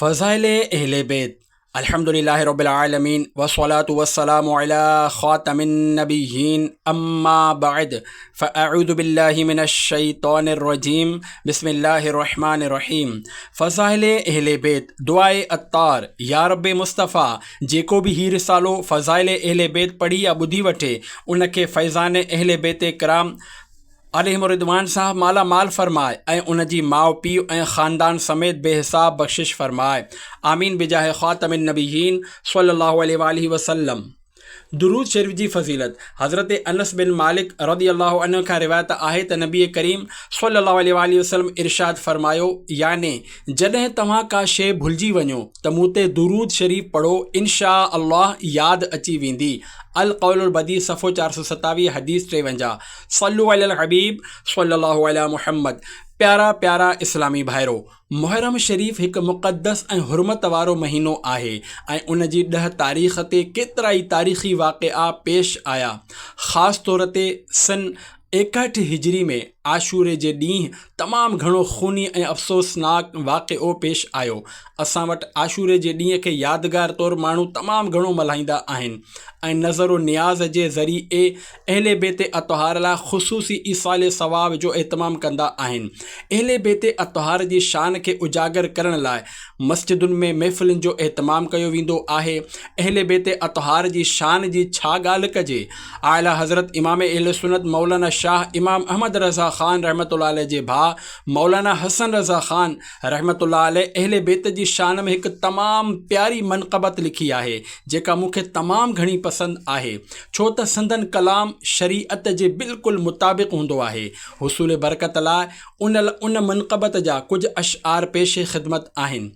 فضائل اهل بيت، الحمد لله رب العالمين والصلاة والسلام علي خاتم النبيين اما بعد فاعوذ بالله من الشيطان الرجيم بسم الله الرحمٰن الرحيم فضائل اهل بيت دعاء عطار، يارب مصطفيٰ جيڪو به هي رسالو فضائل اهل بيت پڙهي يا ٻڌي وٺي ان کي فيضان اهل بيت ڪرام عليهم الرضوان سان مالا مال فرماء ۽ ان جي ماء پيء ۽ خاندان سميت بي حساب بخشش فرماء آمين بجاه خاتم النبيين صلّي الله عليه واٰله وسلّم درود شريف جي فضيلت، حضرت انس بن مالڪ رضي الله عنه کان روايت آهي ته نبي ڪريم صلّي الله عليه واٰله وسلّم ارشاد فرمايو يعني جڏهن توهان ڪا شيء ڀلجي وڃو ته مون تي درود شريف پڙهو انشآء الله ياد اچي ويندي القول البديع صفحو چار سؤ ستاويهه حديث ٽيونجاهه صلو علی الحبيب صلي الله علي محمد پيارا پيارا اسلامي ڀائرو! محرم شريف هڪ مقدس ۽ حرمت وارو مهينو آهي ۽ ان جي ڏهه تاريخ تي ڪيترائي تاريخي واقعا پيش آيا. خاص طور تي سن ايڪهٺ هجري ۾ عاشوري جي ڏينهن تمام گهڻو خوني ۽ افسوسناڪ واقعو پيش آيو. اسان وٽ عاشوري جي ڏينهن کي يادگار طور ماڻهو تمام گهڻو ملهائيندا آهن ۽ نذر و نياز جي ذريعي اهل بيت اطهار لاء خصوصي ايصال ثواب جو اهتمام ڪندا آهن. اهل بيت اطهار جي شان کي اجاگر ڪرڻ لاء مسجدن ۾ محفلن جو اهتمام ڪيو ويندو آهي. اهل بيت اطهار جي شان جي ڇا ڳالهه ڪجي؟ اعليٰ حضرت امام اهل سنت مولانا شاهه امام احمد رضا خان رحمة الله عليه جي ڀاء مولانا حسن رضا خان رحمة الله عليه اهل بيت جي شان ۾ هڪ تمام پياري منقبت لکي آهي جيڪا مون کي تمام گهڻي پسند آهي. ڇو ته سندن ڪلام شريعت جي بلڪل مطابق هوندو آهي. حصول برڪت لاء ان ان منقبت جا ڪجهه اشعار پيش خدمت آهن.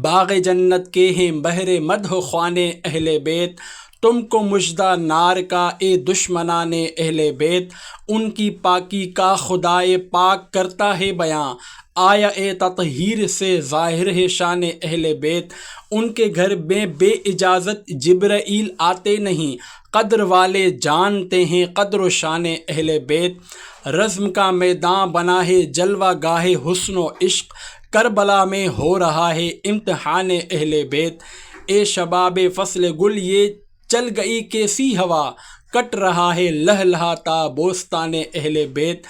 باغ جنت ڪي هين بهر مدح خوان اهل بيت تم ڪو مژدہ نار کا اي دشمنان اهل بيت ان ڪي پاڪي کا خدائي پاڪ ڪرتا هي بيان آيا اي تطهير سي ظاهر هي شان اهل بيت ان ڪي گهر مين بي اجازت جبرئيل آتي نهين قدر والي جان تي هين قدر و شان اهل بيت رزم ڪا ميدان بنا هي جلوه گاه حسن و عشق ڪربلا مين هو رها هي امتحان اهل بيت اي شباب فصل گل يي چل گئي ڪيسي هوا ڪٽ رها هي لهلهاتا بوستان اهل بيت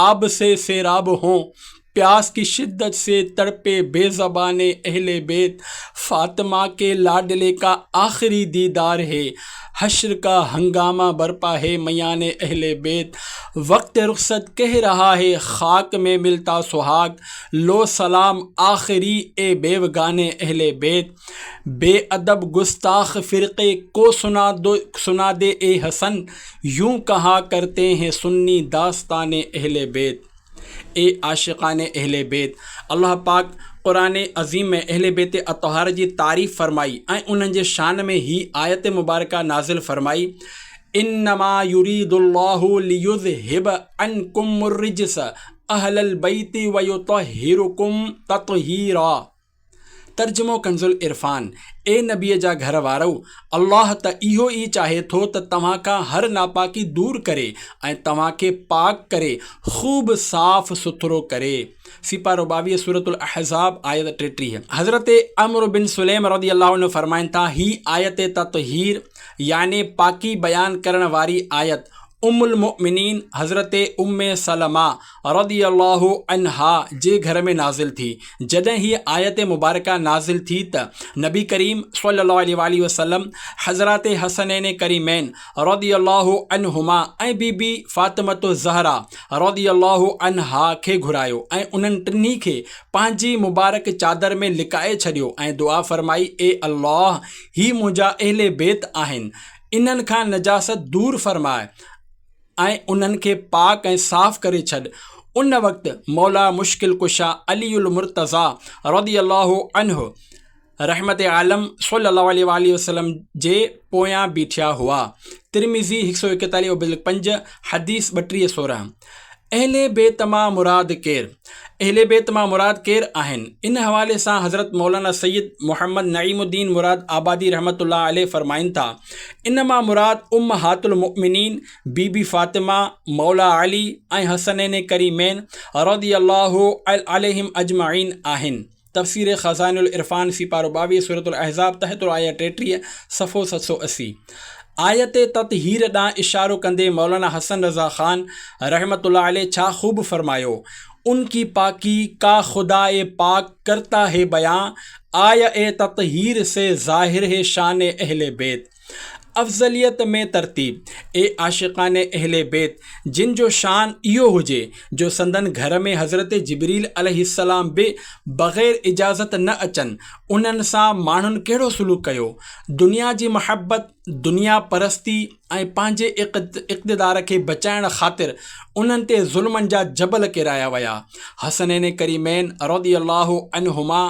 آب سي سيراب هون پياس ڪي شدت سي تڙپي بي زباني اهل بيت فاطمه ڪي لاڏلي ڪا آخري ديدار هي حشر ڪا هنگامه برپا هي ميان اهل بيت وقت رخصت ڪه رها هي خاڪ مي ملتا سهاگ لو سلام آخري اي بيوگاني اهل بيت. بي ادب گستاخ فرقي ڪو سنادي اي حسن يون ڪها ڪرتي هين سني داستان اهل بيت اي عاشقان اهل بيت الله پاڪ قرآن عظيم ۾ اهل بيت اطهار جي تعريف فرمائي ۽ انهن جي شان ۾ هي آيت مبارڪه نازل فرمائي انما يريد الله ليذهب عنڪم الرجس اهل البيت ويطهرڪم تطهيرا ترجمو ڪنزالعرفان، اي نبيء جا گهر وارؤ! الله ته اهو ئي چاهي ٿو ته توهان کان هر ناپاڪي دور ڪري ۽ توهان کي پاڪ ڪري، خوب صاف سٿرو ڪري. سيپارو ٻاويهه سورة الاحزاب آيت ٽيٽيهه. حضرت عمرو بن سليم رضي الله عنه فرمائن ٿا، هي آيت تطهير يعني پاڪي بيان ڪرڻ واري آيت ام المؤمنين حضرت ام سلمه، رضي الله عنها جي گهر ۾ نازل ٿي، جڏهن هيء آيت مبارڪه نازل ٿي ته نبي ڪريم صلّي الله عليه واٰله وسلّم حضرات حسنين ڪريمين رضي الله عنهما ۽ بي بي فاطمة الزهراء رضي الله عنها کي گهرايو ۽ انهن ٽنهي کي پنهنجي مبارڪ چادر ۾ لڪائي ڇڏيو ۽ دعا فرمائي اي الله هي منهنجا اهل بيت آهن انهن کان نجاست دور فرماء. ۽ انهن کي پاڪ ۽ صاف ڪري ڇڏ. ان وقت مولا مشڪل ڪشا علي المرتضيٰ رضي الله عنه رحمت عالم صلي الله عليه واٰله وسلم جي پويان بيٺيا هئا. ترمذي هڪ سؤ ايڪيتاليهون بلڪ پنج، حديث ٻٽيهه سورهن. اهل بيت مان مراد ڪير؟ اهل بيت مان مراد ڪير آهن؟ ان حوالي سان حضرت مولانا سيد محمد نعيم الدين مراد آبادي رحمة الله عليه فرمائن ٿا، ان مان مراد امهات المؤمنين بي بي فاطمه، مولا علي ۽ حسنين ڪريمين رضي الله عليهم اجمعين آهن. تفسير خزائن العرفان سيپارو ٻاويهه سورة الاحزاب تحت الآيه ٽيٽيهه صفحو ست سؤ اسي آيت تطهير ڏانهن اشارو ڪندي مولانا حسن رضا خان رحمة الله عليه ڇا خوب فرمايو ان ڪي پاڪي ڪا خداء پاڪ ڪرتا هي بيان آيه تطهير سي ظاهر هي شان اهل بيت افضليت ۾ ترتيب، اي عاشقان اهل بيت جن جو شان اهو هجي جو سندن گهر ۾ حضرت جبريل عليه السلام به بغير اجازت نه اچن انهن سان ماڻهن ڪهڙو سلوڪ ڪيو؟ دنيا جي محبت، دنيا پرستي ۽ پنهنجي اقتدار کي بچائڻ خاطر انهن تي ظلمن جا جبل ڪيرايا ويا حسنين ڪريمين رضي الله عنهما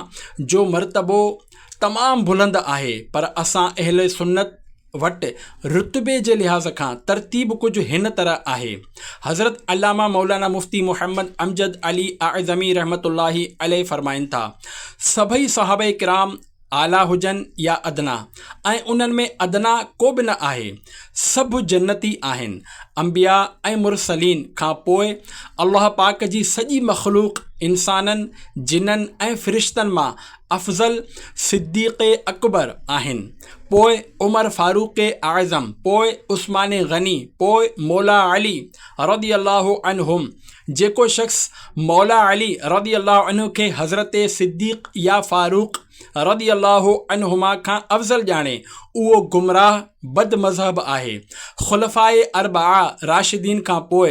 جو مرتبو، تمام بلند آهي پر اسان اهل سنت وٽ رتبي جي لحاظ کان ترتيب ڪجهه هن طرح آهي حضرت علامه مولانا مفتي محمد امجد علي اعظمي رحمة الله عليه فرمائن ٿا سڀئي صحابه ڪرام اعليٰ هجن يا ادنيٰ ۽ انهن ۾ ادنيٰ ڪو به نه آهي سڀ جنتي آهن انبياء ۽ مرسلين کان پوء الله پاڪ جي سڄي مخلوق انسانن جنن ۽ فرشتن مان افضل صديق اڪبر آهن، پوء عمر فاروق اعظم، پوء عثمان غني، پوء مولا علي رضي الله عنهم، جيڪو شخص مولا علي رضي الله عنه کي حضرت صديق يا فاروق رضي الله عنهما کان افضل ڄاڻي اهو گمراهه بد مذهب آهي، خلفاء اربعه راشدين کان پوء،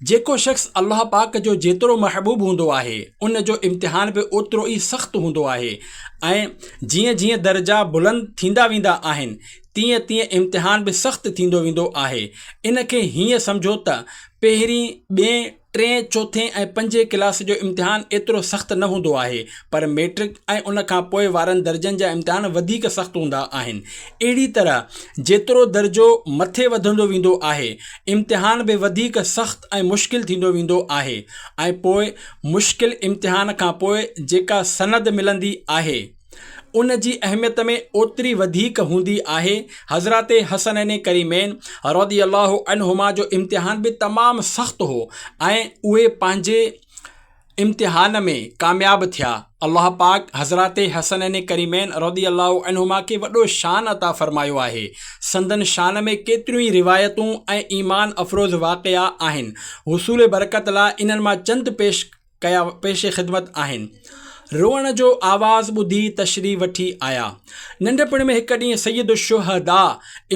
جيڪو شخص الله پاڪ جو جيترو محبوب هوندو آهي، ان جو امتحان به اوترو ئي سخت هوندو آهي ۽ جيئن جيئن درجا بلند ٿيندا ويندا آهن، تيئن تيئن امتحان به سخت ٿيندو ويندو آهي. ان کي هيئن سمجهو ته پهرين، ٻئين، ٽئين، چوٿين ۽ پنجين ڪلاس جو امتحان ايترو سخت نه هوندو آهي، پر ميٽرڪ ۽ ان کان پوء وارن درجن جا امتحان وڌيڪ سخت هوندا آهن. اهڙي طرح جيترو درجو مٿي وڌندو ويندو آهي، امتحان به وڌيڪ سخت ۽ مشڪل ٿيندو ويندو آهي ۽ پوء مشڪل امتحان کان پوء جيڪا سند ملندي آهي ان جي اهميت ۾ اوتري وڌيڪ هوندي آهي حضرات حسنين ڪريمين رضي الله عنهما جو امتحان به تمام سخت هو ۽ اهي پنهنجي امتحان ۾ ڪامياب ٿيا، الله پاڪ حضرات حسنين ڪريمين رضي الله عنهما کي وڏو شان عطا فرمايو آهي، سندن شان ۾ ڪيتريون ئي روايتون ۽ ايمان افروز واقعا آهن، حصول برڪت لا انهن مان چند پيش ڪيا پيش خدمت آهن. روئڻ جو آواز ٻڌي تشريف وٺي آيا. ننڍپڻ ۾ هڪ ڏينهن سيد الشهداء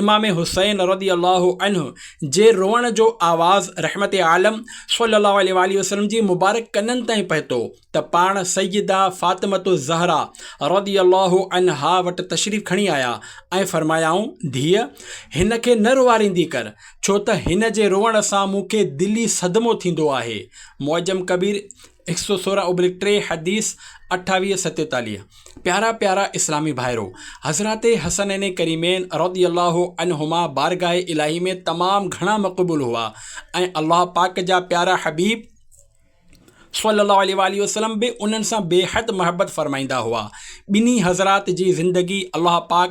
امام حسين رضي الله عنه جي روئڻ جو آواز رحمت عالم صلي الله عليه واله وسلم جي مبارڪ ڪنن تائين پهتو ته پاڻ سيده فاطمه الزهرا رضي الله عنها وٽ تشريف کڻي آيا ۽ فرمايائون ڌيء هن کي نه روئاريندي ڪر ڇو ته هن جي روئڻ سان مون کي دلي صدمو ٿيندو آهي معجم ڪبير هڪ سؤ سورهن اوبلڪ ٽي حديث اٺاويهه ستيتاليهه پيارا پيارا اسلامي ڀائرو! حضرات حسنين ڪريمين رضي الله عنهما بارگاهه الاهي ۾ تمام گهڻا مقبول هئا ۽ الله پاڪ جا پيارا حبيب صلّي الله عليه واٰله وسلّم به انهن سان بيحد محبّت فرمائيندا هئا ٻنهي حضرات جي زندگي الله پاڪ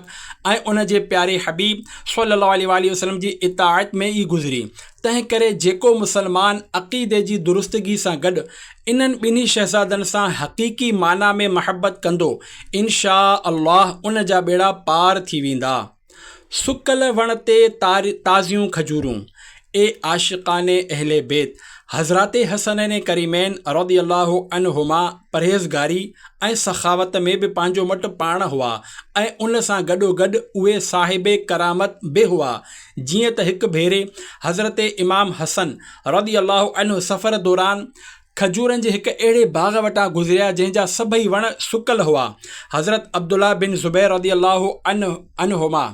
۽ ان جي پياري حبيب صلّي الله عليه واٰله وسلّم جي اطاعت ۾ ئي گذري تنهن ڪري جيڪو مسلمان عقيدي جي درستگي سان گڏ انهن ٻنهي شهزادن سان حقيقي معنيٰ ۾ محبت ڪندو، انشاء الله ان جا ٻيڙا پار ٿي ويندا. سڪل وڻ تي تازيون کجورون. اي عاشقان اهل بيت! حضرات حسنين ڪريمين رضي الله عنهما پرهيزگاري ۽ سخاوت ۾ به پنهنجو مٽ پاڻ هئا ۽ ان سان گڏوگڏ اهي صاحب ڪرامت به هئا، جيئن ته هڪ ڀيري حضرت امام حسن رضي الله عنه سفر دوران کجورن جي هڪ اهڙي باغ وٽان گذريا جنهن جا سڀئي وڻ سڪل هئا. حضرت عبدالله بن زبير رضي الله عنهما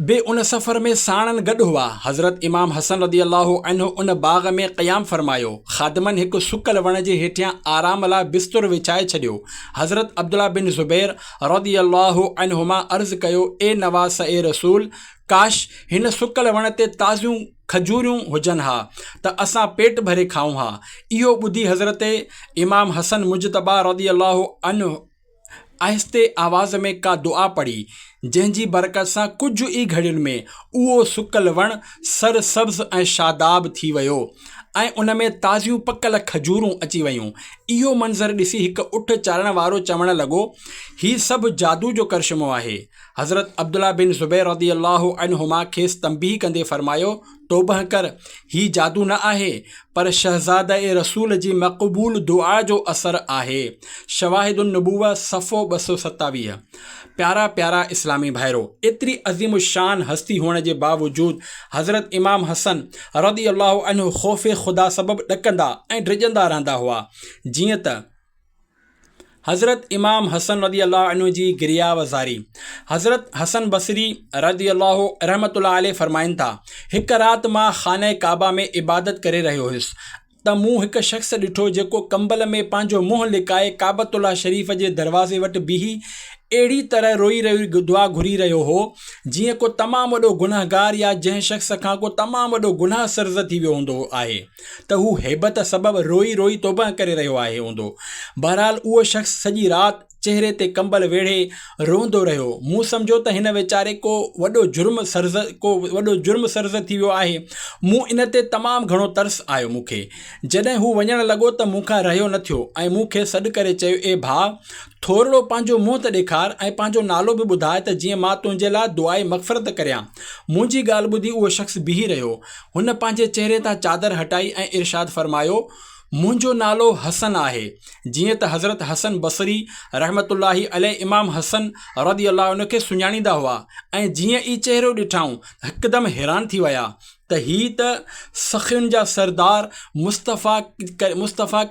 به ان سفر ۾ ساڻن گڏ هئا. حضرت امام حسن رضي الله عنه ان باغ ۾ قيام فرمايو. خادمن هڪ سڪل وڻ جي هيٺيان آرام لاء بستر وڇائي ڇڏيو. حضرت عبدالله بن زبير رضي الله عنهما عرض ڪيو، اي نواسء رسول! ڪاش! هن سڪل وڻ تي تازيون کجوريون هجن ها ته اسان پيٽ ڀري کائون ها. اهو ٻڌي حضرت امام حسن مجتبيٰ رضي الله عنه آهستي آواز ۾ ڪا دعا پڙهي، جنهن جي برڪت سان ڪجهه ئي گهڙين ۾ اهو سڪل وڻ سر سبز ۽ شاداب ٿي ويو ۽ ان ۾ تازيون پڪل کجورون اچي ويون. اهو منظر ڏسي هڪ اٺ چارڻ وارو چوڻ لڳو، هي سڀ جادو جو ڪرشمو آهي. حضرت عبدالله بن زبير رضي الله عنهما کيس تنبيهه ڪندي فرمايو، توبهه ڪر، هي جادو نه آهي، پر شهزاده رسول جي مقبول دعا جو اثر آهي. شواهد النبوة صفحو ٻه سؤ ستاويهه. پيارا پيارا اسلامي ڀائرو! ايتري عظيم الشان هستي هئڻ جي باوجود حضرت امام حسن رضي الله عنه خوف خدا سبب ڏڪندا ۽ ڊڄندا رهندا هئا. جيئن ته حضرت امام حسن رضي الله عنه جي گريا و زاري حضرت حسن بصري رضي الله رحمة الله عليه فرمائن ٿا، هڪ رات مان خانه ڪعبه ۾ عبادت ڪري رهيو هيس ته مون هڪ شخص ڏٺو جيڪو ڪمبل ۾ پنهنجو منهن لڪائي ڪعبة الله شريف جي دروازي وٽ بيهي اهڙي طرح روئي روئي دعا گهري رهيو هو جيئن ڪو تمام وڏو گنهگار يا جنهن شخص کان ڪو تمام وڏو گناهه سرزد ٿي ويو هوندو آهي ته هو هيبت سبب روئي روئي توبهه ڪري رهيو آهي هوندو بهرحال اهو شخص سڄي رات چهري تي ڪمبل ويڙهي روئندو رهيو. مون سمجهيو ته هن ويچاري ڪو وڏو جرم سرزد ڪو وڏو جرم سرزد ٿي ويو آهي. مون ان تي تمام گهڻو ترس آيو مون کي. جڏهن هو وڃڻ لڳو ته مون کان رهيو نه ٿيو ۽ مون کي سڏ ڪري چيو اي ڀاء! ٿورڙو پنهنجو منهن ته ڏيکار ۽ پنهنجو نالو به ٻڌاء ته جيئن مان تنهنجي لاء دعائي مغفرت ڪريان. منهنجي ڳالهه ٻڌي اهو شخص بيهي رهيو. هن پنهنجي چهري تان چادر هٽائي ۽ ارشاد فرمايو، منهنجو نالو حسن آهي جيئن ته حضرت حسن بصري رحمة الله عليه امام حسن رضي الله عنه کي سڃاڻيندا هئا ۽ جيئن ئي چهرو ڏٺائون هڪدم حيران ٿي ويا ته هي ته سخين جا سردار مصطفيٰ مصطفيٰ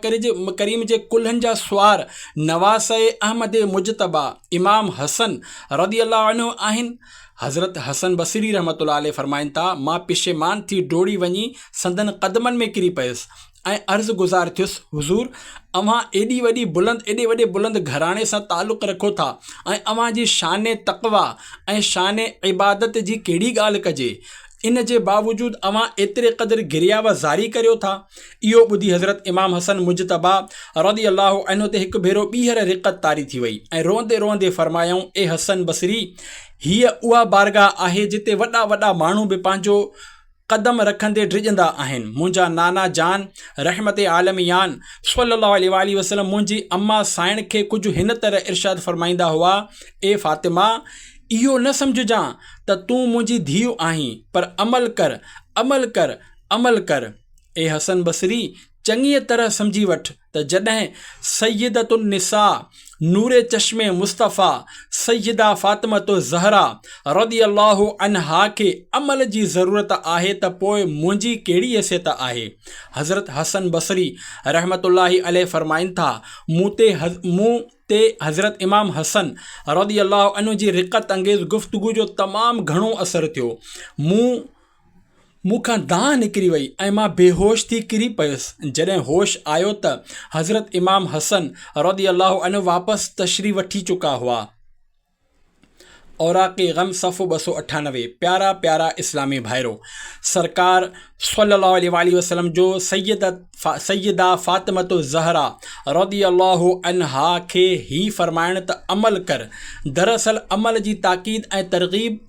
ڪريم جي ڪلهن جا سوار نواسه احمد مجتبيٰ امام حسن رضي الله عنه آهن حضرت حسن بصري رحمة الله عليه فرمائن ٿا مان پشيمان ٿي ڊوڙي وڃي سندن قدمن ۾ ڪري پيس ۽ عرض گذار ٿيس حضور اوهان ايڏي وڏي بلند ايڏي وڏي بلند گهراڻي سان تعلق رکو ٿا ۽ اوهان جي شان تقويٰ ۽ شان عبادت جي ڪهڙي ڳالهه ڪجي ان جي باوجود اوهان ايتري قدر گريا و زاري ڪريو ٿا اهو ٻڌي حضرت امام حسن مجتبيٰ رضي الله عنه تي هڪ ڀيرو ٻيهر رقت طاري ٿي وئي ۽ روئندي روئندي فرمايائون اي حسن بصري هيء اها بارگاهه آهي جتي وڏا وڏا ماڻهو به پنهنجو قدم رکندي ڊڄندا آهن منهنجا نانا جان رحمت عالميان صلي الله عليه واٰله وسلم منهنجي اما سائڻ کي ڪجهه هن طرح ارشاد فرمائيندا هئا اي فاطمه اهو نه سمجهجان ته تون منهنجي ڌيء آهين پر عمل ڪر عمل ڪر عمل ڪر اي حسن بصري چڱيء طرح سمجهي وٺ ته جڏهن سيدة النساء نور چشم مصطفيٰ سيده فاطمة الزهرا رضي الله عنها کي عمل جي ضرورت آهي ته پوء منهنجي ڪهڙي حيثيت آهي؟ حضرت حسن بصري رحمة الله عليه فرمائن ٿا، مون تي مون تي حضرت امام حسن رضي الله عنه جي رقت انگيز گفتگو جو تمام گهڻو اثر ٿيو. مون مون کان دانهن نڪري وئي ۽ مان بيهوش ٿي ڪري پيس. جڏهن هوش آيو ته حضرت امام حسن رضي الله عنه واپس تشريح وٺي چڪا هئا. اوراق غم صفحو ٻه سؤ اٺانوي، پيارا پيارا اسلامي ڀائرو! سرڪار صلّي اللّٰه عليه واٰله وسلّم جو سيّده فاطمة الزهراء رضي الله عنها کي هي فرمائڻ ته عمل ڪر، دراصل عمل جي تاڪيد ۽ ترغيب،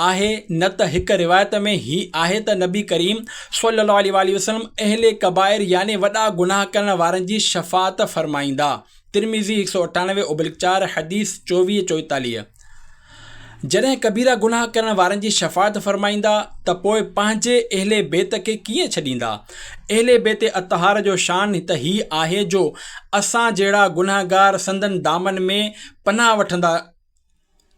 آهي نه ته هڪ روايت ۾ هي آهي ته نبي ڪريم صلي الله عليه واٰله وسلم اهل ڪبائر يعني وڏا گناهه ڪرڻ وارن جي شفاعت فرمائيندا ترمذي هڪ سؤ اٺاڻوي ابلڪ چار حديث چوويهه چوئيتاليهه جڏهن ڪبيرا گناهه ڪرڻ وارن جي شفاعت فرمائيندا ته پوء پنهنجي اهل بيت کي ڪيئن ڇڏيندا اهل بيت اطهار جو شان ته هي آهي جو اسان جهڙا گناهگار سندن دامن ۾ پناهه وٺندا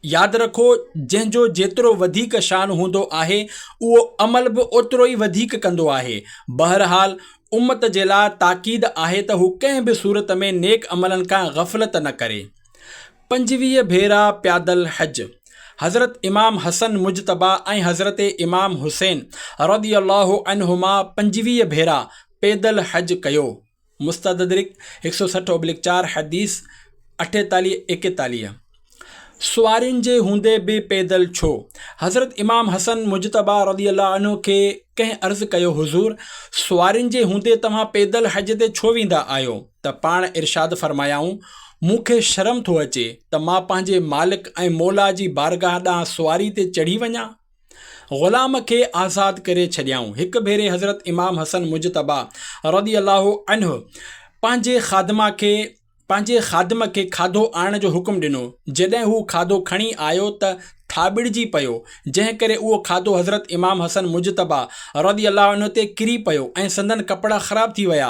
ياد رکو جنهن جو جيترو وڌيڪ شان هوندو آهي اهو عمل به اوترو ئي وڌيڪ ڪندو آهي بهرحال امت جي لاء تاڪيد آهي ته هو ڪنهن به صورت ۾ نيڪ عملن کان غفلت نه ڪري پنجويهه ڀيرا پيادل حج حضرت امام حسن مجتبيٰ ۽ حضرت امام حسين رضي الله عنهما پنجويهه ڀيرا پيدل حج ڪيو. مستدرڪ هڪ سؤ سٺ اوبليڪ چار حديث اٺيتاليهه ايڪيتاليهه سوارين جي هوندي به پيدل ڇو؟ حضرت امام حسن مجتبيٰ رضي الله عنه کي ڪنهن عرض ڪيو حضور! سوارين جي هوندي توهان پيدل حج تي ڇو ويندا آهيو؟ ته پاڻ ارشاد فرمايائون، مون کي شرم ٿو اچي ته مان پنهنجي مالڪ ۽ موليٰ جي بارگاهه ڏانهن سواري تي چڙهي وڃان؟ غلام کي آزاد ڪري ڇڏيائون. هڪ ڀيري حضرت امام حسن مجتبيٰ رضي الله عنه پنهنجي خادمه کي پنهنجي خادم کي کاڌو آڻڻ جو حڪم ڏنو، جڏهن هو کاڌو کڻي آيو ته ٿاٻڙجي پيو، جنهن ڪري اهو کاڌو حضرت امام حسن مجتبيٰ رضي الله عنه تي ڪري پيو ۽ سندن ڪپڙا خراب ٿي ويا.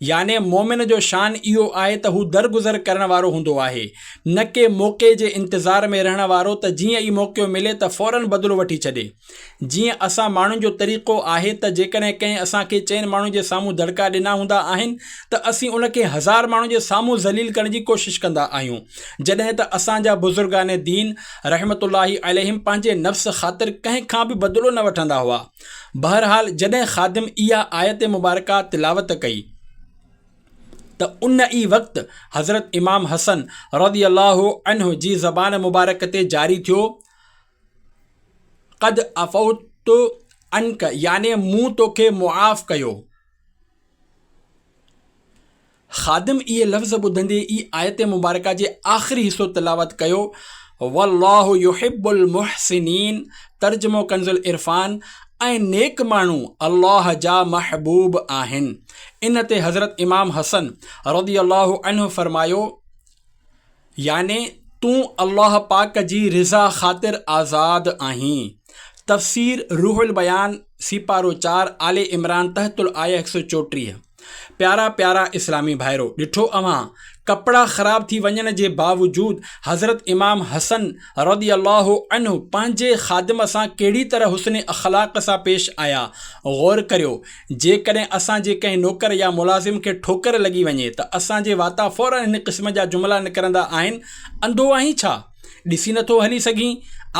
يعني مؤمن جو شان اهو آهي ته هو درگذر ڪرڻ وارو هوندو آهي، نه ڪي موقعي جي انتظار ۾ رهڻ وارو ته جيئن ئي موقعو ملي ته فورن بدلو وٺي ڇڏي. جيئن اسان ماڻهن جو طريقو آهي ته جيڪڏهن ڪنهن اسان کي چئن ماڻهن جي سامهون دڙڪا ڏنا هوندا آهن ته اسين ان کي هزار ماڻهن جي سامهون ذليل ڪرڻ جي ڪوشش ڪندا آهيون جڏهن ته اسان جا بزرگان دين رحمة الله عليهم پنهنجي نفس خاطر ڪنهن کان به بدلو نه وٺندا هئا. بهرحال جڏهن خادم اها آيت مبارڪه تلاوت ڪئي ته ان ئي وقت حضرت امام حسن رضي الله عنه جي زبان مبارڪ تي جاري ٿيو قد افوت عنك يعني مون توکي معاف ڪيو خادم اهي لفظ ٻڌندي ئي آيت مبارڪه جي آخري حصو تلاوت ڪيو، والله يحب المحسنين، ترجمو ڪنزالعرفان، ۽ نيڪ ماڻهو الله جا محبوب آهن. ان تي حضرت امام حسن رضي الله عنه فرمايو، يعني تون الله پاڪ جي رضا خاطر آزاد آهين. تفسير روح البيان، سيپارو چار، آل عمران، تحت الآيه هڪ سؤ چوٽيهه، پيارا پيارا اسلامي ڀائرو! ڏٺو اوهان، ڪپڙا خراب ٿي وڃڻ جي باوجود حضرت امام حسن رضي الله عنه پنهنجي خادم سان ڪهڙي طرح حسن اخلاق سان پيش آيا. غور ڪريو! جيڪڏهن اسان جي ڪنهن نوڪر يا ملازم کي ٺوڪر لڳي وڃي ته اسان جي واتان فوراً هن قسم جا جملا نڪرندا آهن، انڌو آهين ڇا؟ ڏسي نٿو هلي سگهين؟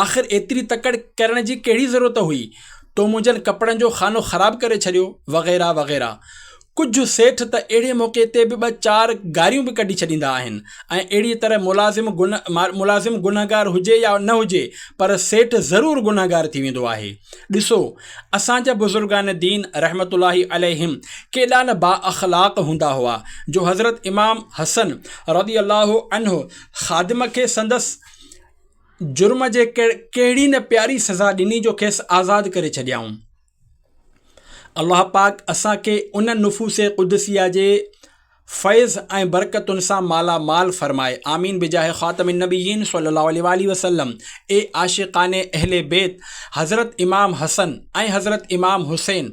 آخر ايتري تڪڙ ڪرڻ جي ڪهڙي ضرورت هئي؟ تو منهنجن ڪپڙن جو خانو خراب ڪري ڇڏيو، وغيره وغيره. ڪجهه سيٺ ته اهڙي موقعي تي به ٻه چار گاريون به ڪڍي ڇڏيندا آهن ۽ اهڙيء طرح ملازم ملازم گنهگار هجي يا نه هجي پر سيٺ ضرور گنهگار ٿي ويندو آهي. ڏسو! اسان جا بزرگان دين رحمة الله عليهم ڪيڏا نه بااخلاق هوندا هئا جو حضرت امام حسن رضي الله عنه خادم کي سندس جرم جي ڪهڙي نه پياري سزا ڏني جو کيس آزاد ڪري ڇڏيائون. الله پاڪ اسان کي ان نفوس قدسيه جي فيض ۽ برڪتن سان مالا مال فرمائي آمين بجاھ خاتم النبيين صلي الله عليه واٰله وسلم اي عاشقان اهل بيت حضرت امام حسن ۽ حضرت امام حسين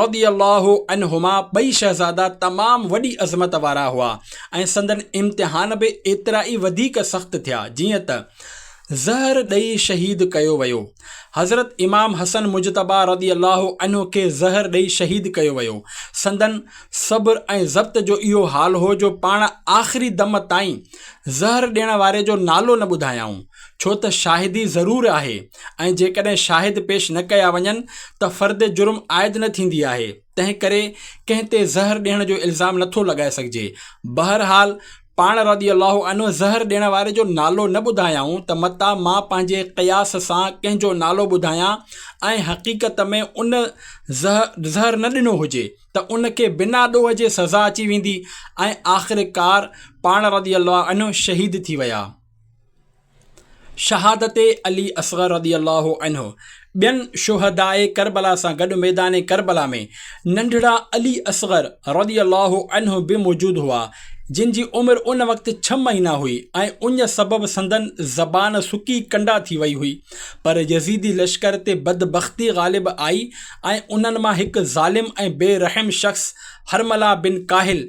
رضي الله عنهما ٻئي شهزادا تمام وڏي عظمت وارا هئا ۽ سندن امتحان به ايترا ئي وڌيڪ سخت ٿيا جيئن ته زهر ڏئي شهيد ڪيو ويو. حضرت امام حسن مجتبيٰ رضي الله عنه کي زهر ڏئي شهيد ڪيو ويو. سندن صبر ۽ ضبط جو اهو حال هو جو پاڻ آخري دم تائين زهر ڏيڻ واري جو نالو نه ٻڌايائون، ڇو ته شاهدي ضرور آهي ۽ جيڪڏهن شاهد پيش نه ڪيا وڃن ته فرد جرم عائد نه ٿيندي آهي، تنهنڪري ڪنهن تي زهر ڏيڻ جو الزام نٿو لڳائي سگهجي. بهرحال پاڻ رضي الله عنه زهر ڏيڻ واري جو نالو نه ٻڌايائون ته متان مان پنهنجي قياس سان ڪنهن جو نالو ٻڌايان ۽ حقيقت ۾ ان زهر نه ڏنو هجي ته ان کي بنا ڏوهه جي سزا اچي ويندي ۽ آخرڪار پاڻ رضي الله عنه شهيد ٿي ويا. شهادت علي اصغر رضي الله عنه ٻين شهداء ڪربلا سان گڏ ميدان ڪربلا ۾ ننڍڙا علي اصغر رضي الله عنه به موجود هئا جن جي عمر ان وقت ڇهه مهينا هئي ۽ اڃ سبب سندن زبان سڪي ڪنڊا ٿي وئي هئي پر يزيدي لشڪر تي بدبختي غالب آئي ۽ انهن مان هڪ ظالم ۽ بي رحم شخص حرمله بن ڪاهل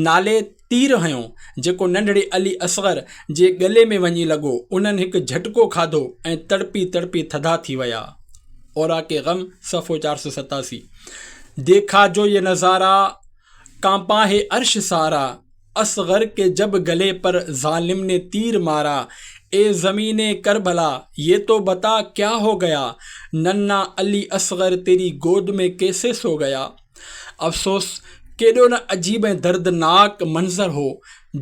نالي تير هنيو، جيڪو ننڍڙي علي اصغر جي ڳلي ۾ وڃي لڳو. انهن هڪ جهٽڪو کاڌو ۽ تڙپي تڙپي ٿڌا ٿي ويا. اوراق غم، صفحو چار سؤ ستاسي، ديکا جو يه نظاره، ڪانپا هي عرش سارا، اصغر ڪي جب ڳلي پر ظالم ني تير مارا، اي زمين ڪربلا، يه تو بتا ڪيا هو ڳيا، ننھا علي اصغر تيري گود ۾ ڪيسي سو ڳيا. افسوس! ڪيڏو نه عجيب ۽ دردناڪ منظر هو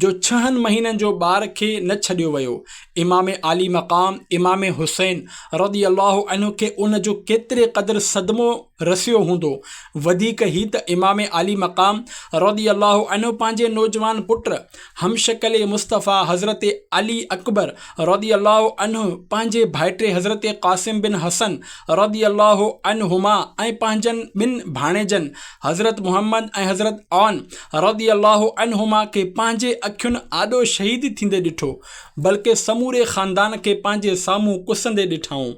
جو ڇهن مهينن جو ٻار کي نه ڇڏيو ويو. امام عالي مقام امام حسين رضي الله عنه کي ان جو ڪيتري قدر صدمو رسيو هوندو. وڌيڪ هي ته امام عالي مقام رضي الله عنه پنهنجي نوجوان پٽ همشڪل مصطفيٰ حضرت علي اڪبر رضي الله عنه پنهنجي ڀائٽي حضرت قاسم بن حسن رضي الله عنهما ۽ پنهنجن ٻن ڀاڻيجن حضرت محمد ۽ حضرت عون رضي الله عنهما کي پنهنجي اکين آڏو شهيد ٿيندي ڏٺو بلڪه سموري خاندان کي پنهنجي سامهون ڪسندي ڏٺائون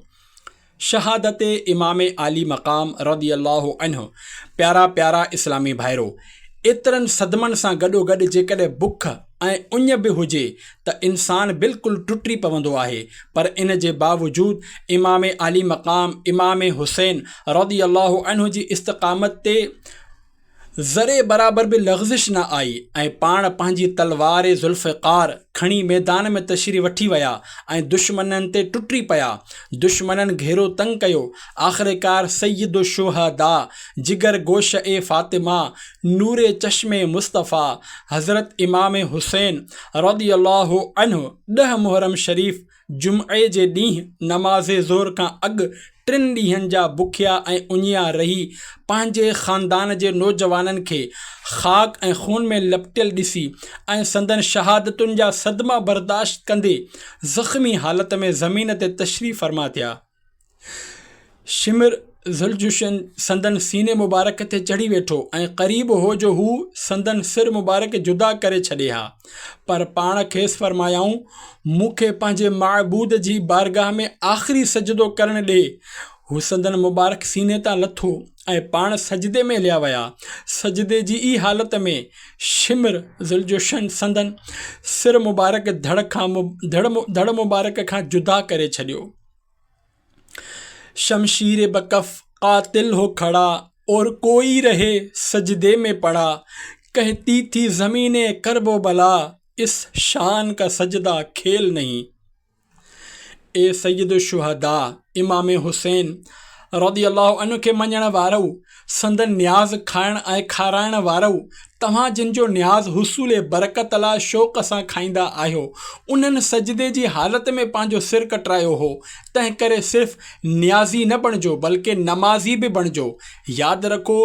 شهادت امام عالي مقام رضي الله عنه پيارا پيارا اسلامي ڀائرو! ايترن صدمن سان گڏوگڏ جيڪڏهن بک ۽ اڃ به هجي ته انسان بلڪل ٽٽي پوندو آهي پر ان جي باوجود امام عالي مقام امام حسين رضي الله عنه جي استقامت تي ذري برابر به لغزش نه آئي ۽ پاڻ پنهنجي تلوار ذوالفقار کڻي ميدان ۾ تشريف وٺي ويا ۽ دشمنن تي ٽٽي پيا. دشمنن گهيرو تنگ ڪيو. آخرڪار سيد الشهداء، جگر گوشه فاطمه، نور چشم مصطفيٰ حضرت امام حسين رضي الله عنه ڏهه محرم شريف جمعي جي ڏينهن نماز ظهر کان اڳ ٽن ڏينهن جا بکيا ۽ اڃيا رهي پنهنجي خاندان جي نوجوانن کي خاڪ ۽ خون ۾ لپٽيل ڏسي ۽ سندن شهادتن جا صدما برداشت ڪندي زخمي حالت ۾ زمين تي تشريف فرما ٿيا شمر ذوالجوشن سندن سيني مبارڪ تي چڙهي ويٺو ۽ قريب هو جو هو سندن سر مبارڪ جدا ڪري ڇڏي ها، پر پاڻ کيس فرمايائون، مون کي پنهنجي معبود جي بارگاهه ۾ آخري سجدو ڪرڻ ڏي. هو سندن مبارڪ سيني تان لٿو ۽ پاڻ سجدي ۾ هليا ويا. سجدي جي ئي حالت ۾ شمر ذوالجوشن سندن سر مبارڪ ڌڙ مبارڪ کان جدا ڪري ڇڏيو. شمشير به ڪف قاتل هو کڙا اور ڪوئي رهي سجدي مين پڙا ڪهتي ٿي زمين اي ڪرب و بلا اس شان ڪا سجدا کيل نهين اي سيد الشهدا امام حسين رضي الله عنه کي مڃڻ وارؤ سندن نياز کائڻ ۽ کارائڻ وارؤ، توهان جن جو نياز حصول برڪت لاء شوق سان کائيندا آهيو، انهن سجدي جي حالت ۾ پنهنجو سر ڪٽرايو هو، تنهنڪري صرف نيازي نه بڻجو بلڪه نمازي به بڻجو. ياد رکو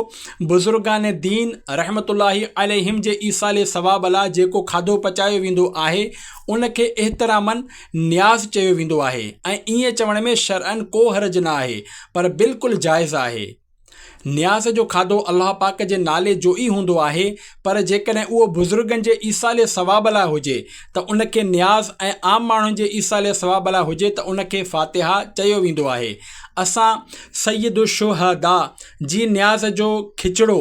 بزرگان دين رحمة الله عليهم جي ايصال ثواب لاء جيڪو کاڌو پچايو ويندو آهي، ان کي احتراماً نياز چيو ويندو آهي ۽ ائين چوڻ ۾ شرعن ڪو حرج نه آهي پر بلڪل جائز آهي. نياز جو کاڌو الله پاڪ جي نالي جو ئي هوندو آهي پر جيڪڏهن اهو بزرگن جي ايصال ثواب لاء هجي ته ان کي نياز ۽ عام ماڻهن جي ايصال ثواب لاء هجي ته ان کي فاتحه چيو ويندو آهي. اسان سيد الشهداء جي نياز جو کچڙو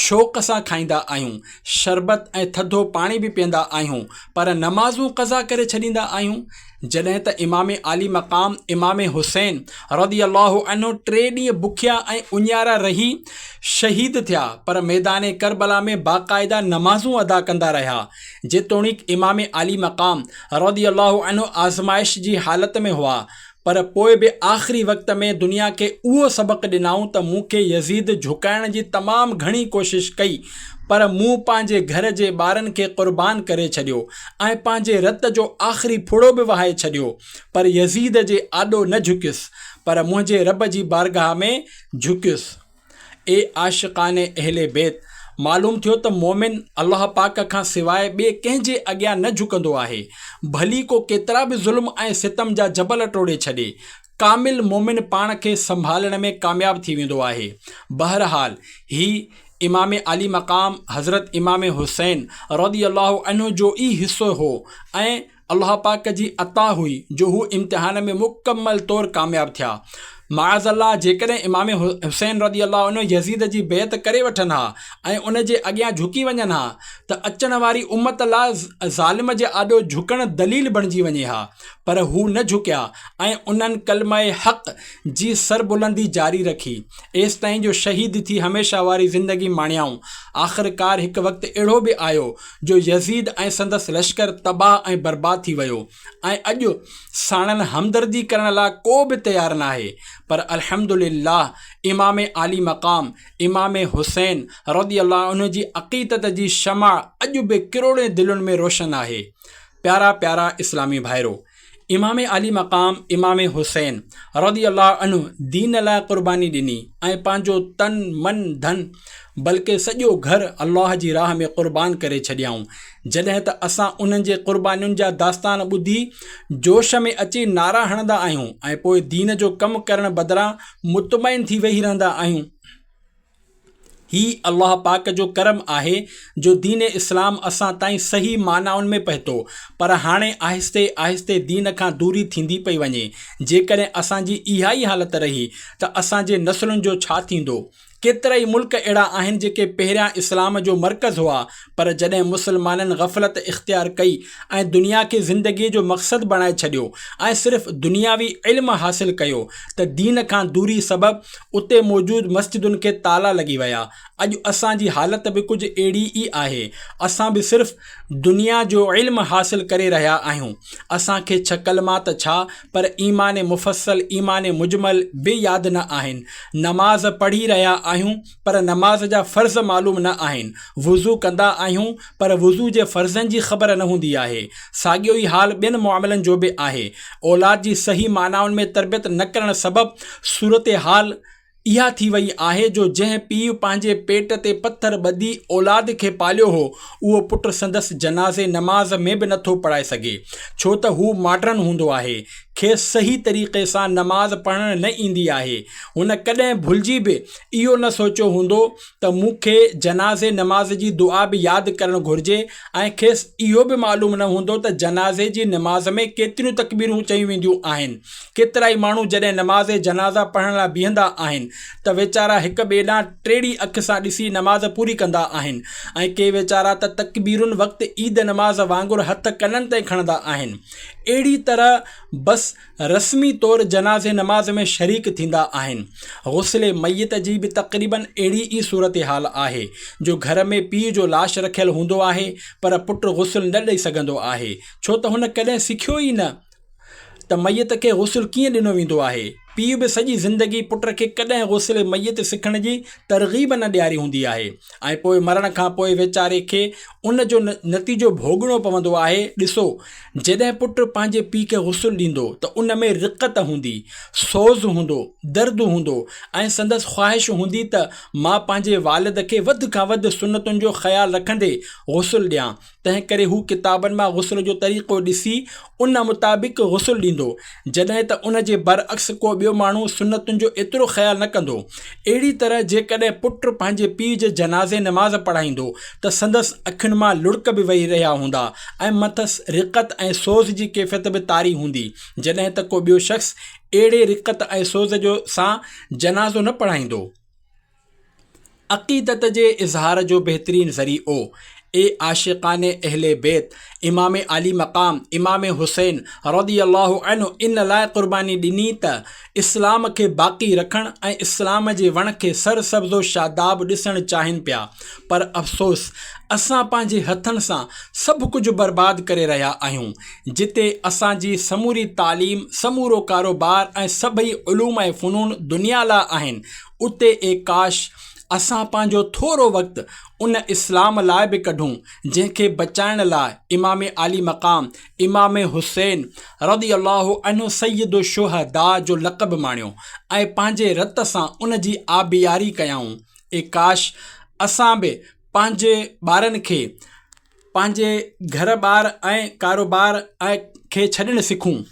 شوق سان کائيندا آهيون. شربت ۽ ٿڌو پاڻي به پيئندا آهيون پر نمازون قضا ڪري ڇڏيندا آهيون جڏهن ته امام عالي مقام امام حسين رضي الله عنه ٽي ڏينهن بکيا ۽ اڃارا رهي شهيد ٿيا پر ميدان ڪربلا ۾ باقاعده نمازون ادا ڪندا رهيا جيتوڻيڪ امام عالي مقام رضي الله عنه آزمائش جي حالت ۾ هئا پر پوء به آخري وقت ۾ دنيا کي اهو سبق ڏنائون ته مون کي يزيد جهڪائڻ جي تمام گهڻي ڪوشش ڪئي پر مون پنهنجي گهر جي ٻارن کي قربان ڪري ڇڏيو ۽ پنهنجي رت جو آخري ڦڙو به وهائي ڇڏيو پر يزيد جي آڏو نه جهڪيس پر منهنجي رب جي بارگاهه ۾ جهڪيس. اي عاشقان اهل بيت! معلوم ٿيو ته مؤمن الله پاڪ کان سواء ٻئي ڪنهن جي اڳيان نه جهڪندو آهي، ڀلي ڪو ڪيترا به ظلم ۽ ستم جا جبل ٽوڙي ڇڏي. ڪامل مؤمن پاڻ کي سنڀالڻ ۾ ڪامياب ٿي ويندو آهي. بهرحال هي امام عالي مقام حضرت امام حسين رضي الله عنه جو ئي حصو هو ۽ الله پاڪ جي عطا هئي جو هو امتحان ۾ مڪمل طور ڪامياب ٿيا. معاذ الله جيڪڏهن امام حسين رضي الله عنه يزيد جي بيعت ڪري وٺن ها ۽ ان جي اڳيان جهڪي وڃن ها ته اچڻ واري امت لاء ظالم جي آڏو جهڪڻ دليل بڻجي وڃي ها پر هو نه جهڪيا ۽ انهن ڪلمه حق جي سربلندي جاري رکي ايستائين جو شهيد ٿي هميشه واري زندگي ماڻيائون آخرڪار هڪ وقت اهڙو به آيو جو يزيد ۽ سندس لشڪر تباهه ۽ برباد ٿي ويو ۽ اڄ ساڻن همدردي ڪرڻ لاء ڪو به تيار ناهي پر الحمد لله امام عالي مقام امام حسين رضي الله عنه جي عقيدت جي شمع اڄ به ڪروڙين دلين ۾ روشن آهي پيارا پيارا اسلامي ڀائرو! امام عالي مقام امام حسين رضي الله عنه دين لاء قرباني ڏني ۽ پنهنجو تن من ڌن بلڪه سڄو گهر الله جي راهه ۾ قربان ڪري ڇڏيائون جڏهن ته اسان انهن جي قربانين جا داستان ٻڌي جوش ۾ اچي نعرا هڻندا آهيون ۽ پوء دين جو ڪم ڪرڻ بدران مطمئن ٿي ويهي رهندا آهيون هي الله پاڪ جو ڪرم آهي جو دين اسلام اسان تائين صحيح معنائن ۾ پهتو پر هاڻي آهستي آهستي دين کان دوري ٿيندي پئي وڃي جيڪڏهن اسان جي اها ئي حالت رهي ته اسان جي نسلن جو ڇا ٿيندو ڪيترائي ملڪ اهڙا آهن جيڪي پهريان اسلام جو مرڪز هئا پر جڏهن مسلمانن غفلت اختيار ڪئي ۽ دنيا کي زندگيء جو مقصد بڻائي ڇڏيو ۽ صرف دنياوي علم حاصل ڪيو ته دين کان دوري سبب اتي موجود مسجدن کي تالا لڳي ويا. اڄ اسان جي حالت به ڪجهه اهڙي ئي آهي. اسان به صرف دنيا جو علم حاصل ڪري رهيا آهيون. اسان کي ڇهه ڪلما ته ڇا پر ايمان مفصل، ايمان مجمل به ياد نه آهن. نماز پڙهي رهيا آهيون. پر نماز جا فرض معلوم نه آهن، وضو ڪندا آهيون پر وضو جي فرضن جي خبر نه هوندي آهي، ساڳيو ئي حال ٻين معاملن جو به آهي، اولاد جي صحيح معنائن ۾ تربيت نه ڪرڻ سبب صورتحال اها ٿي وئي آهي جو جنهن پيء پنهنجي پيٽ تي پٿر ٻڌي اولاد کي پاليو هو اهو پٽ سندس جنازي نماز ۾ به نٿو پڙهائي سگهي ڇو ته هو ماڊرن هوندو آهي کيس صحيح طريقي سان نماز پڙهڻ نه ايندي آهي هن ڪڏهن ڀلجي به اهو نه سوچيو هوندو ته مون کي جنازي نماز جي دعا به ياد ڪرڻ گهرجي ۽ کيس اهو به معلوم نه هوندو ته جنازي جي نماز ۾ ڪيتريون تڪبيرون چيون وينديون آهن. ڪيترائي ماڻهو جڏهن نماز جنازه پڙهڻ لاء بيهندا آهن ته ويچارا هڪ ٻئي ڏانهن ٽيڙي اک سان ڏسي نماز پوري ڪندا آهن ۽ ڪي ويچارا ته تڪبيرن وقت عيد نماز وانگر هٿ ڪنن تائين کڻندا آهن. اهڙي طرح بس رسمي طور جنازي نماز ۾ شريڪ ٿيندا آهن. غسل ميت جي به تقريباً اهڙي ئي صورتحال آهي جو گهر ۾ پيء جو لاش رکيل هوندو آهي پر پٽ غسل نه ڏئي سگهندو آهي ڇو ته هن ڪڏهن سکيو ئي نه ته ميت کي غسل ڪيئن ڏنو ويندو آهي. پيء به سڄي زندگي پٽ کي ڪڏهن غسل ميت سکڻ جي ترغيب نه ڏياري هوندي آهي ۽ پوء مرڻ کان پوء ويچاري کي ان جو نتيجو ڀوڳڻو پوندو آهي. ڏسو! جڏهن پٽ پنهنجي پيء کي غسل ڏيندو ته ان ۾ رقت هوندي، سوز هوندو، درد هوندو ۽ سندس خواهش هوندي ته مان پنهنجي والد کي وڌ کان وڌ سنتن جو خيال رکندي غسل ڏيان، تنهنڪري هو ڪتابن مان غسل جو طريقو ڏسي ان مطابق غسل ڏيندو. جڏهن ته ان جي برعڪس ڪو ٻيو ماڻهو سنتن جو ايترو خيال نه ڪندو. اهڙي طرح جيڪڏهن پٽ پنهنجي پيء جي جنازي نماز پڙهائيندو ته سندس اکين مان لڙڪ به وهي رهيا هوندا ۽ مٿس رقت ۽ سوز جي ڪيفيت به طاري هوندي جڏهن ته ڪو ٻيو شخص اهڙي رقت ۽ سوز جو سان جنازو نه پڙهائيندو. عقيدت جي اظهار جو بهترين ذريعو. اي عاشقان اهل بيت، امام عالي مقام امام حسين رضي الله عنه ان لاء قرباني ڏني ته اسلام کي باقي رکڻ ۽ اسلام جي وڻ کي سر سبز و شاداب ڏسڻ چاهين پيا پر افسوس اسان پنهنجي هٿن سان سڀ ڪجهه برباد ڪري رهيا آهيون جتي اسان جي سموري تعليم سمورو ڪاروبار ۽ سڀئي علوم ۽ فنون دنيا لاء آهن اتي اي ڪاش! اسان پنهنجو ٿورو وقت ان اسلام لاء به ڪڍون جنهن کي بچائڻ لاء امام عالي مقام امام حسين رضي الله عنه سيد الشهداء جو لقب ماڻيو ۽ پنهنجي رت سان ان جي آبياري ڪيائون اي ڪاش! اسان به پنهنجي ٻارن کي پنهنجي گهر ٻار ۽ ڪاروبار کي ڇڏڻ سکون.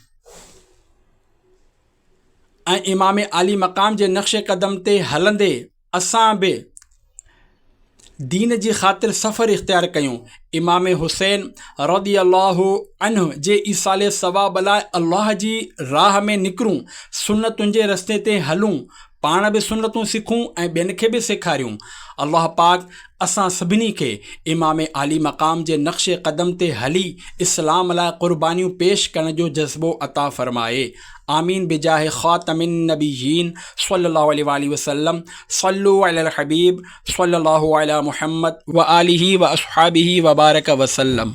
۽ امام عالي مقام جي نقش قدم تي هلندي اسان به دين جي خاطر سفر اختيار ڪيون امام حسين رضي الله عنه جي ايصال ثواب لاء الله جي راهه ۾ نڪرون سنتن جي رستي تي هلون پاڻ به سنتون سکون ۽ ٻين کي به سيکاريون الله پاڪ اسان سڀني کي امام عالي مقام جي نقش قدم تي هلي اسلام لاء قربانيون پيش ڪرڻ جو جذبو عطا فرمائي آمين بجاه خاتم النبيين صلي الله عليه واله وسلم صلو علي الحبيب صلي الله علي محمد وآله واصحابه وبارك وسلم